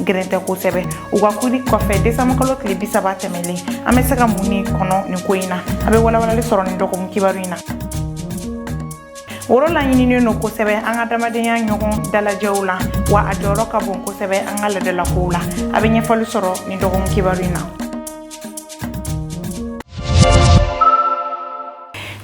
gɛrɛntɛ kosɛbɛ u ka kiiri kɔfɛ desanburukalo tile bi saba tɛmɛlen an bɛ se ka mun de kɔnɔ nin ko in na a bɛ walawalali sɔrɔ nin dɔgɔkun kibaru in na woro laɲininen don kosɛbɛ an ka adamadenya ɲɔgɔn dalajɛw la wa a jɔyɔrɔ ka bon kosɛbɛ an ka laadalakow la a bɛ ɲɛfɔli sɔrɔ nin dɔgɔkun kibaru in na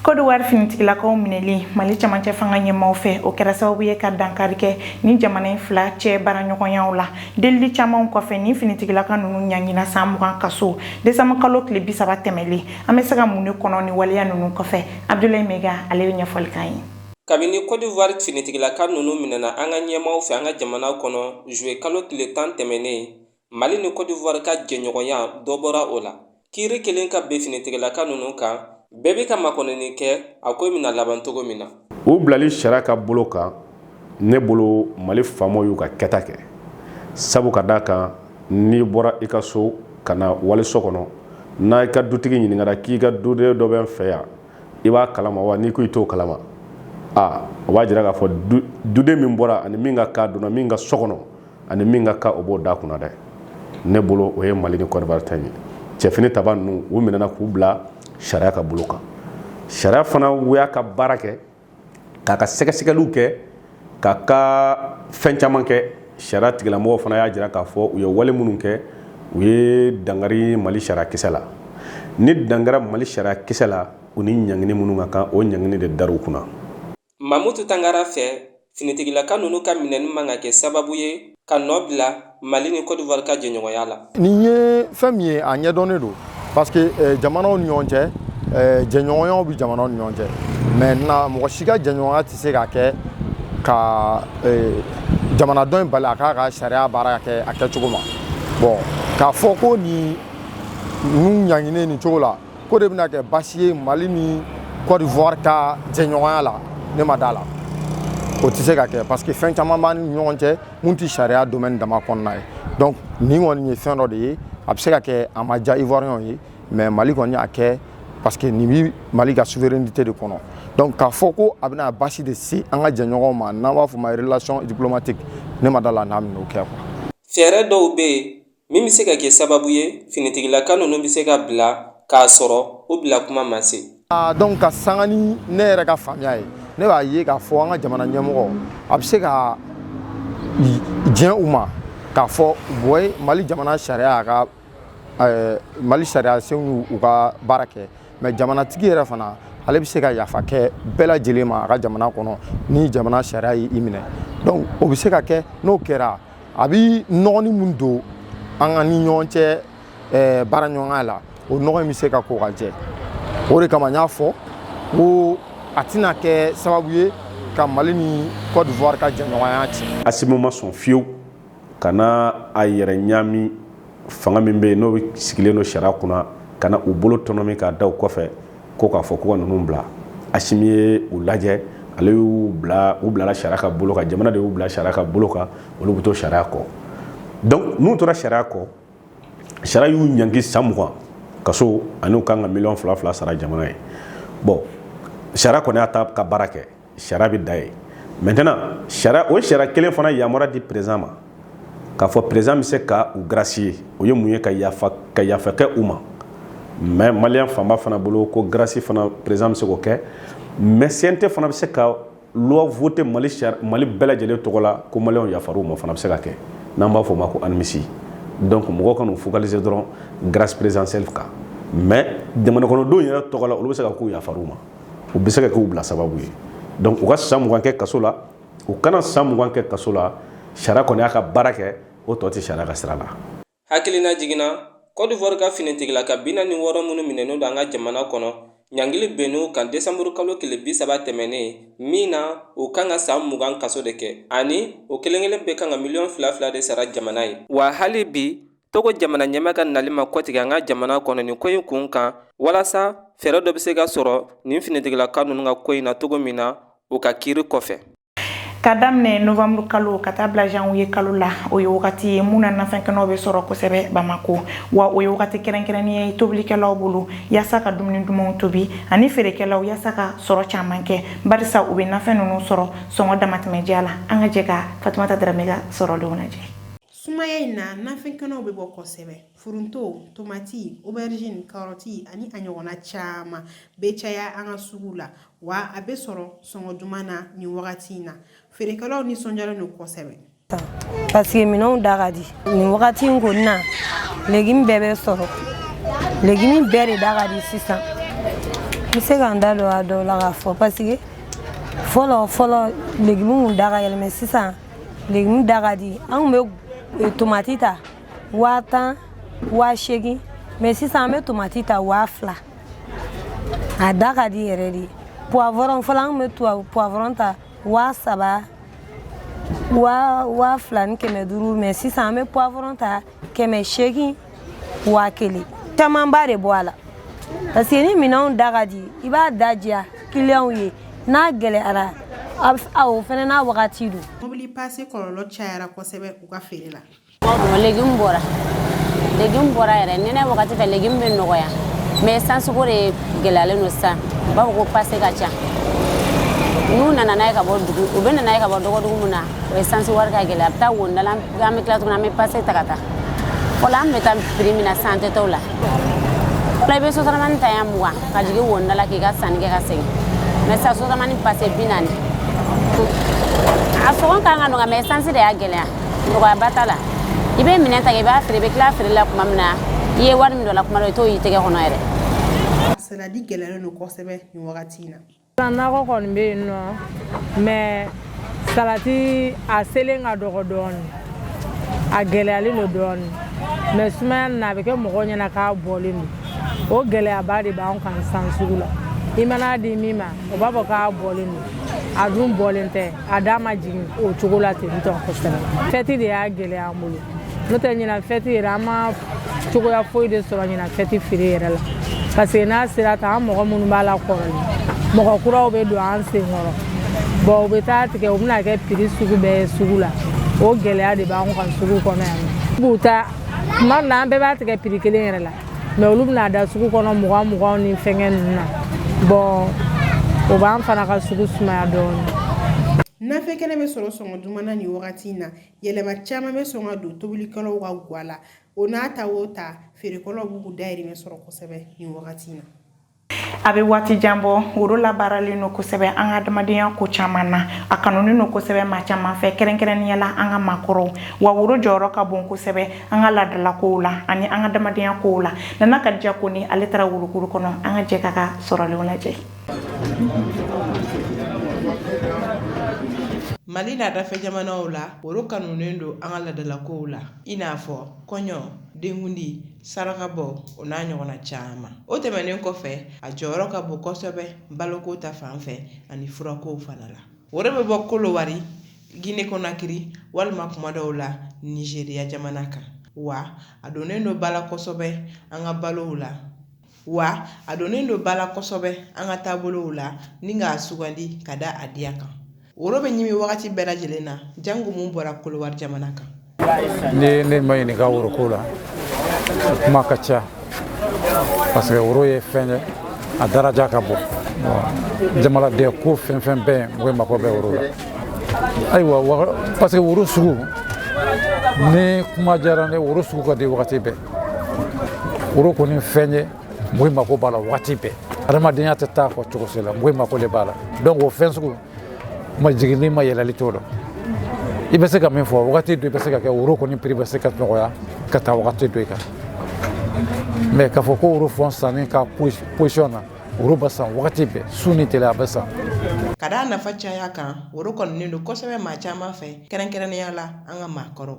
Kodowari finitigilakaw minɛli Mali cɛmancɛ fanga ɲɛmaaw fɛ, o kɛra sababu ye ka dankari kɛ nin jamana in fila cɛ baaraɲɔgɔnyaw la. Delili camanw kɔfɛ, nin finitigilaka ninnu ɲanginna san mugan kaso, desanburukalo tile bi saba tɛmɛlen. An bɛ se ka mun de kɔnɔ nin waleya ninnu kɔfɛ? Abudulayi Mayiga, ale bɛ ɲɛfɔli k'an ye. Kabini Kodowari finitigilaka ninnu minɛna an ka ɲɛmaaw fɛ an ka jamana kɔnɔ, juillet kalo tile tan tɛmɛnen, Mali ni Cote d'Ivoire ka jɛɲɔgɔnya dɔ bɔra o la. Kiiri kɛlen ka bin finitigilaka ninnu kan, bɛɛ bɛ ka makɔnɔni kɛ a ko in bɛna laban cogo min na. U bilali sariya ka bolo kan, ne bolo Mali faamaw y'u ka kɛta kɛ. Sabu ka d'a kan n'i bɔra i ka so ka na waliso kɔnɔ, n'i ka dutigi ɲininkara k'i ka duden dɔ bɛ n fɛ yan, i b'a kalama wa? N'i ko i t'o kalama, a o b'a jira k'a fɔ duden min bɔra ani min ka kaa donna min ka so kɔnɔ, a ni min ka kan o b'o da kunna dɛ ne bolo o ye mali ni cote d'ivoire ta ye cɛ finitabaa ninnu u minɛna k'u bila sariya ka bolo kan sariya fana y'a ka baara kɛ k'a ka sɛgɛsɛgɛliw kɛ k'a ka fɛn caman kɛ sariya tigilamɔgɔ fana y'a jira k'a fɔ u ye wale minnu kɛ u ye dankari mali sariya kisɛ la ni dankari mali sariya kisɛ la u ni ɲangini minnu ka kan o ɲangini de dara u kunna Mamutu Tangara fɛ, finitigilaka ninnu ka minɛni man ka kɛ sababu ye ka nɔ bila Mali ni Cote d'Ivoire ka jɛɲɔgɔnya la. Nin ye fɛn min ye, a ɲɛdɔnnen don parce que eh, jamanaw ni ɲɔgɔn cɛ eh, jɛɲɔgɔnyaw bɛ jamanaw ni ɲɔgɔn cɛ maintenant mɔgɔ si ka jɛɲɔgɔnya tɛ se ka kɛ ka eh, jamana dɔ in bali a k'a ka sariya baara kɛ a kɛcogo ma bon k'a fɔ ko nin ninnu ɲanginen nin cogo la k'o de bɛna kɛ basi ye mali ni cote d'ivoire ka jɛɲɔgɔnya la ne ma da a la o tɛ se ka kɛ parce que fɛn caman b'an ni ɲɔgɔn cɛ min tɛ sariya domaine dama kɔnɔna ye donc nin kɔni ye fɛn dɔ de ye a bɛ se ka kɛ a ma diya ivoiriyɛnw ye mais mali kɔni y'a kɛ parce que nin bɛ mali ka souveraineté de kɔnɔ donc k'a fɔ ko a bɛna basi de se an ka jɛɲɔgɔnw ma n'an b'a fɔ ma relation diplomatique ne ma da a la n'a bɛn'o kɛ quoi. fɛɛrɛ dɔw bɛ yen min bɛ se ka kɛ sababu ye finitigilaka ninnu bɛ se ka bila k'a sɔrɔ o bila kuma ma se ah, donc ka sanga ni ne yɛrɛ ka faamuya ye ne b'a ye k'a fɔ an ka jamana ɲɛmɔgɔ a bɛ se ka diɲɛ u ma k'a fɔ bɔye mali jamana sariya y'a ka eh, mali sariya senw u ka baara kɛ mais jamanatigi yɛrɛ fana ale bɛ se ka yafa kɛ bɛɛ lajɛlen ma a ka jamana kɔnɔ ni jamana sariya y'i minɛ donc o bɛ se ka kɛ n'o kɛra a bi nɔgɔni mun don an ka ni ɲɔgɔn cɛ eh, baara ɲɔgɔnya la o nɔgɔ in bɛ se ka ko ka jɛ o de kama n y'a fɔ ko a tɛna kɛ sababu ye ka mali ni cote d'ivoire ka jɛɲɔgɔnya tiɲɛ asimi ma sɔn fiyewu ka na a yɛrɛ ɲami fanga min bɛ yen n'o sigilen don sariya kunna ka na u bolo tɔnɔmi k'a da u kɔfɛ ko k'a fɔ ko ka ninnu bila asimi ye u lajɛ ale y'u bila u bilala sariya ka bolo kan jamana de y'u bila sariya ka bolo kan olu bɛ to sariya kɔ donc n'u tora sariya kɔ sariya y'u ɲangi san mugan kaso ani u kan ka miliyɔn fila fila sara jamana ye bon sariya kɔni y'a ta ka baara kɛ sariya bɛ dan yen maintenant sariya o sariya kelen fana yamaruya di président ma k'a fɔ président bɛ se ka u gracier o ye mun ye ka yafa ka yafa kɛ u ma mais maliyɛn fanba fana bolo ko grâce fana président bɛ se k'o kɛ mais CNT fana bɛ se ka loi voter Mali sari Mali bɛɛ lajɛlen tɔgɔ la ko maliyɛnw yafar'u ma o fana bɛ se ka kɛ n'an b'a fɔ o ma ko amnistie donc mɔgɔw kan'u focaliser dɔrɔn grâce présidentielle kan mais jamanakɔnɔdenw yɛrɛ tɔgɔ la olu bɛ se ka k'u yafar'u ma. u bɛ se ka k'u bila sababu ye donc u ka san mugan kɛ kaso la u kana san mugan kɛ kaso la sariya kɔni y'a ka baara kɛ o tɔ tɛ sariya ka sira la hakililajigin na cote d'ivoire ka finitigilaka bi naani ni wɔɔrɔ minnu minɛnen don an ka jamana kɔnɔ ɲangili binn'u kan desanburu kalo tile bi saba tɛmɛnnen min na u kan ka san mugan kaso de kɛ ani o kelenkelen bɛɛ kan ka miliyɔn fila fila de sara jamana ye wa hali bi Togo jamana ɲɛmaa ka nali ma kɔtigɛ an ka jamana kɔnɔ nin ko in kun kan walasa fɛɛrɛ dɔ bɛ se ka sɔrɔ nin finitigilaka ninnu ka ko in na cogo min na u ka kiiri kɔfɛ ka daminɛ nowanburu kalo ka taa bila zanwuye kalo la o ye wagati ye mun na nafɛnkɛnɛw bɛ sɔrɔ kosɛbɛ bamakɔ wa o ye wagati kɛrɛnkɛrɛnnen ye tobilikɛlaw bolo yaasa ka dumuni dumanw tobi ani feerekɛlaw yaasa ka sɔrɔ caman kɛ bawo u bɛ nafɛn ninnu sɔrɔ sɔngɔ damatɛmɛ diya la an ka jɛ ka fatumata daramɛ ka sɔrɔlenw lajɛ sumaya in na nafɛn kɛnɛw bɛ bɔ kosɛbɛ foronto tomati aubergine karɔti ani a ɲɔgɔnna caman bɛ caya an ka sugu la wa a bɛ sɔrɔ sɔngɔ duman na nin wagati in na feerekɛlaw nisɔndiyalen don kosɛbɛ parce que minɛnw da ka di nin wagati in kɔni na légume bɛɛ bɛ sɔrɔ légume bɛɛ de da ka di sisan n bɛ se ka n da don a dɔw la k'a fɔ parce que fɔlɔ fɔlɔ légume kun da ka gɛlɛn mais sisan légume da ka di an kun bɛ tomati ta waa tan waa seegin mais sisan an bɛ tomati ta waa fila a da ka di yɛrɛ de poivron fɔlɔ an kun bɛ poivron ta waa saba waa fila ni kɛmɛ duuru mais sisan an bɛ poivron ta kɛmɛ seegin waa kelen camanba de bɔ a la parce que ni minɛnw da ka di i b'a da diya kiliyanw ye n'a gɛlɛyara o fana n'a wagati don mobili pase kɔlɔlɔ cayara kosɛbɛ u ka feere la légume bɔra légume bɔra yɛrɛ nɛnɛ wagati fɛ légume bɛ nɔgɔya mais sansiko de gɛlɛyalen don sisan u b'a fɔ ko pase ka ca n'u nana n'a ye ka bɔ dugu u bɛ na n'a ye ka bɔ dɔgɔdugu min na o ye sansi wari ka gɛlɛn an bɛ taa wonida la an bɛ tila tuguni an bɛ pase ta ka taa fɔlɔ an bɛ taa piri min na san tɛ t'o la fɔlɔ i bɛ sotaramani ta yan mugan ka jigin wonida la k'i ka sanni kɛ ka segin mɛ san sotaramani pase bi naani a sɔngɔ kan ka nɔgɔya mɛ sansi de y'a gɛlɛya nɔgɔyaba t'a la i bɛ minɛn ta i b'a feere i bɛ tila feere la tuma min na i ye wari min don a la kuma dɔ i t'o y'i tɛgɛ kɔnɔ yɛrɛ saladi gɛlɛyalen don kosɛbɛ nin wagati in na Nakɔ kɔni bɛ yen nɔ mais salati a selen ka dɔgɔ dɔɔnin a gɛlɛyalen don dɔɔnin mais sumaya na a bɛ kɛ mɔgɔ ɲɛna k'a bɔlen don o gɛlɛyaba de b'an kan san sugu la i man'a di min ma o b'a fɔ k'a bɔlen don a dun bɔlen tɛ a da ma jigin o cogo la ten tɔ kosɛbɛ fɛti de y'a gɛlɛya an bolo n'o tɛ ɲinan fɛti yɛrɛ an ma cogoya foyi de sɔrɔ ɲinan fɛti feere yɛrɛ la parce que n'a sera tan an mɔgɔ minnu b'a la kɔrɔlen mɔgɔ kuraw bɛ don an sen kɔrɔ bɔn u bɛ t'a tigɛ u bɛ n'a kɛ piri sugu bɛɛ ye sugu la o gɛlɛya de b'an kan sugu kɔnɔ yan b'u ta tuma dɔ la an bɛɛ b'a tigɛ piri kelen yɛrɛ la mɛ olu bɛ n'a da sugu kɔnɔ mugan muganw ni fɛnkɛ ninnu na bɔn o b'an fana ka sugu sumaya dɔɔnin nafɛn kɛnɛ bɛ sɔrɔ sɔngɔ duman na nin wagati in na yɛlɛma caman bɛ sɔn ka don tobilikɛlaw ka guwa la o n'a ta o ta feerekɛlaw b'u dayirimɛ sɔrɔ kosɛbɛ nin wagati in na a bɛ waati jan bɔ woro labaaralen don kosɛbɛ an ka adamadenya ko caman na a kanunen don kosɛbɛ maa caman fɛ kɛrɛnkɛrɛnnenya la an ka maakɔrɔw wa woro jɔyɔrɔ ka bon kosɛbɛ an ka laadalakow la ani an ka adamadenya kow la Nana Kadija Kone ale taara worokuru kɔnɔ an ka jɛ k'a ka sɔrɔlenw lajɛ Mali n'a dafɛ jamanaw la woro kanunen don an ka laadalakow la i n'a fɔ kɔɲɔ denkundi sarakabɔ o n'a ɲɔgɔnna caman o tɛmɛnen kɔfɛ a jɔyɔrɔ ka bon kosɛbɛ baloko ta fan fɛ ani furakow fana la woro bɛ bɔ Kolowari Gine Konakiri walima kuma dɔw la Nizeriya jamana kan wa a donnen don bala kosɛbɛ an ka balow la wa a donnen don ba la kosɛbɛ an ka taabolow la n'i k'a sugandi ka da a diya kan woro bɛ ɲimi wagati bɛɛ lajɛlen na janko mun bɔra kolowari jamana kan ne ma ɲininka woroko la kuma ka ca parce que woro ye fɛn ye a daraja ka bon jamanaden ko fɛn fɛn bɛɛ mɔgɔ mako bɛ woro la ayiwa parce que woro sugu ni kuma diyara ne woro sugu ka di wagati bɛɛ woro kɔni fɛn ye mɔgɔ mako b'a la waati bɛɛ adamadenya tɛ taa a kɔ cogo si la mɔgɔ mako de b'a la donc o fɛn sugu ma jiginni ma yɛlɛli t'o la i bɛ se ka min fɔ wagati dɔ i bɛ se ka kɛ woro kɔni prix bɛ se ka nɔgɔya ka taa wagati dɔ i kan mais k'a fɔ ko woro fɔn sanni ka position na woro bɛ san wagati bɛɛ su ni tile a bɛ san ka d'a nafa caya kan woro kanunen don kosɛbɛ maa caman fɛ kɛrɛnkɛrɛnnenya la an ka maakɔrɔ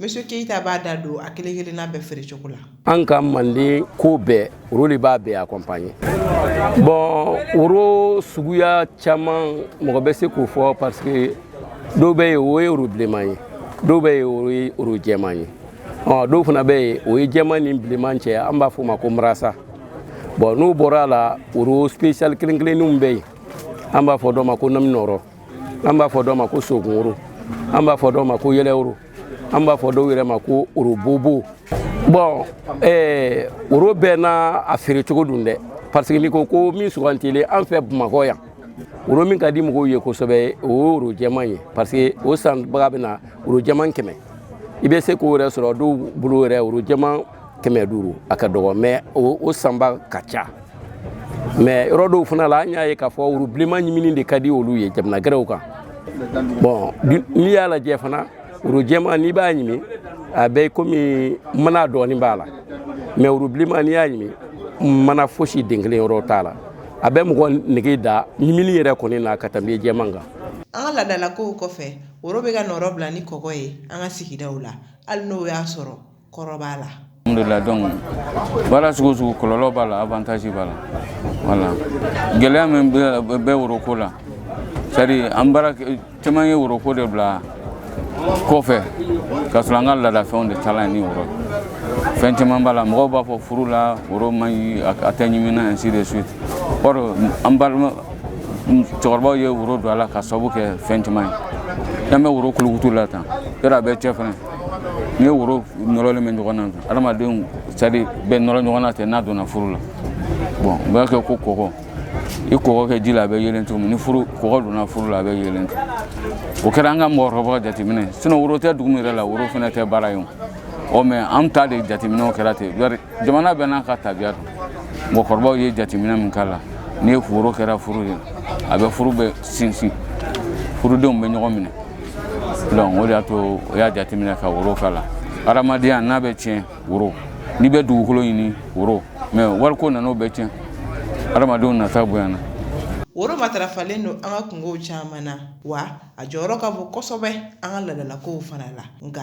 Monsieur Keita b'a da don a kelen-kelenna bɛɛ feere cogo la an ka manden ko bɛɛ woro de b'a bɛɛ accompagner bon woro suguya caman mɔgɔ bɛ se k'o fɔ parce que dɔw bɛ yen o ye woro bilenman ye dɔw bɛ yen o ye woro jɛman ye dɔw fana bɛ yen o ye jɛman ni bilenman cɛ an b'a fɔ o ma ko marasa bon n'o bɔra a la woro spécial kelen-kelenninw bɛ yen an b'a fɔ dɔ ma ko naminɔɔrɔ an b'a fɔ dɔ ma ko sogun woro an b'a fɔ dɔ ma ko yɛlɛ woro an b'a fɔ dɔw yɛrɛ ma ko woro bobo bon woro bɛɛ n'a a feere cogo don dɛ parce que n'i ko ko min sugandilen an fɛ bamakɔ yan woro min ka di mɔgɔw ye kosɛbɛ o ye woro jɛman ye parce que o sanbaga bɛ na woro jɛman kɛmɛ i bɛ se k'o yɛrɛ sɔrɔ dɔw bolo yɛrɛ woro jɛman kɛmɛ duuru a ka dɔgɔ mais o sanba ka ca mais yɔrɔ dɔw fana la an y'a ye k'a fɔ woro bilenman ɲimini de ka di olu ye jamana gɛrɛw kan bon n'i y'a lajɛ fana woro jɛman n'i b'a ɲimi a bɛ komi mana dɔɔni b'a la mais woro bilenman n'i y'a ɲimi mana fosi den kelen yɔrɔ t'a la a bɛ mɔgɔ nege da ɲimini yɛrɛ kɔni na ka tɛmɛ jɛman kan an ka laadalakow kɔfɛ woro bɛ ka nɔrɔbila ni kɔgɔ ye an ka sigidaw la hali n'o y'a sɔrɔ kɔrɔ b'a la donc baara sugu sugu kɔlɔlɔ b'a la avantage b'a la gɛlɛya min bɛ woroko la c'est à dire an caman ye woroko de bila kɔfɛ ka sɔrɔ an ka laadafɛnw de taa ni woro fɛn caman b'a la mɔgɔw b'a fɔ furu la woro man ɲi a tɛ ɲimina ainsi de suite an balima cɛkɔrɔbaw ye woro don a la ka sababu kɛ fɛn caman ye an bɛ woro kulukutu la tan yɔrɔ a bɛ cɛ fana n'i ye woro nɔrɔlen bɛ ɲɔgɔn na adamadenw c'est à dire bɛɛ nɔrɔ ɲɔgɔn na ten n'a donna furu la bon u b'a kɛ ko kɔgɔ i kɔgɔ kɛ ji la a bɛ yelen cogo min ni furu kɔgɔ donna furu la a bɛ yelen ten o kɛra an ka mɔgɔkɔrɔbaw ka jateminɛ sinon woro tɛ dugu min yɛrɛ la woro fana tɛ baara ye o mais an ta de jateminɛw kɛra ten jamana bɛɛ n'a ka tabiya don mɔgɔkɔrɔbaw ye jateminɛ min k'a la ni ye woro kɛra furu ye a bɛ furu bɛ sinsin furudenw bɛ ɲɔgɔn minɛ donc o de y'a to o y'a jateminɛ ka woro k'a la hadamadenya n'a bɛ tiɲɛ woro n'i bɛ dugukolo ɲini woro mais wariko nana o bɛɛ tiɲɛ hadamadenw nata bonyana woro matarafalen don an ka kunkow caman na wa a jɔyɔrɔ ka bon kosɛbɛ an ka ladalakow fana la nka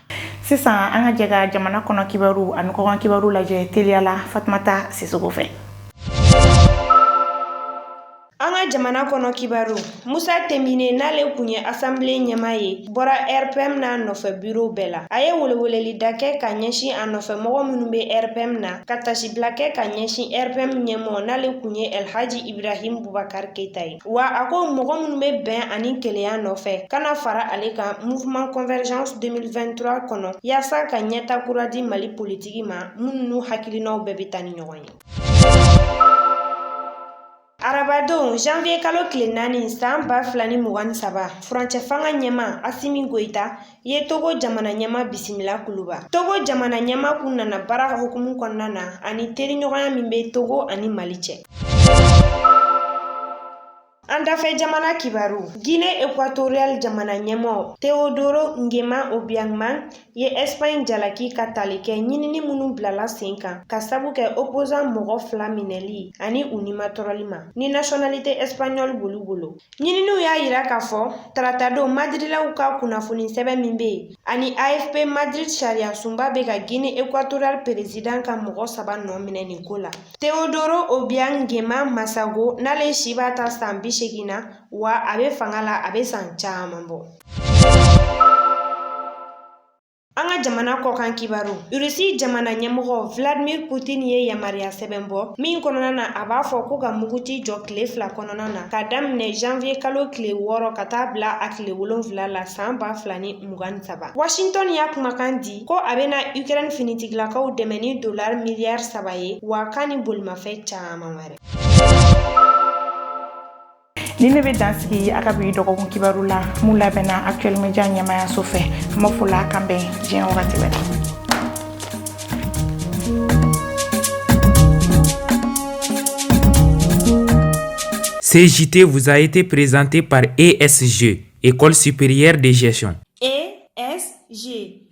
sisan an ka jɛ ka jamana kɔnɔ kibaru ani kɔkan kibaru lajɛ teliya la fatumata sisoko fɛ an ka jamana kɔnɔ kibaru musa timbine n'ale kun ye asanbile ɲɛma ye bɔra rpm n'a nɔfɛ biro bɛɛ la a ye weleweleli da kɛ ka ɲɛsin a nɔfɛ mɔgɔ minnu bɛ rpm na ka tasibila kɛ ka ɲɛsin rpm ɲɛmɔgɔ n'ale kun ye elhaji ibrahim bubakar keita ye wa a ko mɔgɔ minnu bɛ bɛn ani kelenya nɔfɛ ka na fara ale kan mouvement convergence 2023 kɔnɔ yaasa ka ɲɛta kura di mali politiki ma minnu n'u hakilinaw bɛɛ bɛ taa ni ɲɔgɔn ye arabadon janvier kalo tile naani san ba fila ni mugan ni saba furancɛ fanga ɲɛma asimi goyita ye Togo jamana ɲɛma bisimila kuluba Togo jamana ɲɛma kun nana baara hukumu kɔnɔna na ani teriɲɔgɔnya min bɛ Togo ani Mali cɛ An dafɛ jamana kibaru Gine Ekwatoriyal jamana ɲɛmɔɔ Teodoro Ngema Obiang Mangue ye Ɛsipaɲi jalaki ka tali kɛ ɲinini minnu bilala sen kan ka sabu kɛ opozan mɔgɔ fila minɛli ani u nimatɔrɔli ma ni nasiyɔnalite ɛsipaɲɔli b'olu bolo Ɲininiw y'a yira k'a fɔ taratadon Madirilaw ka kunnafoni sɛbɛn min bɛ yen ani AFP Madrid sariyasunba bɛ ka Guinée équatoriale peresidan ka mɔgɔ saba nɔ minɛ nin ko la. Teodoro Obiang Nguema Masago n'ale si b'a ta san bi seegin na wa a bɛ fanga la a bɛ san caman bɔ. An ka jamana kɔkan kibaru Russie jamana ɲɛmɔgɔ Vladimir Putin ye yamaruya sɛbɛn bɔ min kɔnɔna na a b'a fɔ ko ka muguti jɔ tile fila kɔnɔna na ka daminɛ janvier kalo tile wɔɔrɔ ka taa bila a tile wolonwula la san ba fila ni mugan ni saba Washington y'a kumakan di ko a bɛna Ukraine finitigilakaw dɛmɛ ni dolar miliyari saba ye wa k'a ni bolimafɛn caman wɛrɛ nin de bɛ dan sigi an ka bi dɔgɔkun kibaru la min labɛnna actuel media ɲɛmayaso fɛ n b'a fɔ Ala k'an bɛn diɲɛ wagati wɛrɛ Ce JT vous a été présenté par ESG, École supérieure de gestion. ESG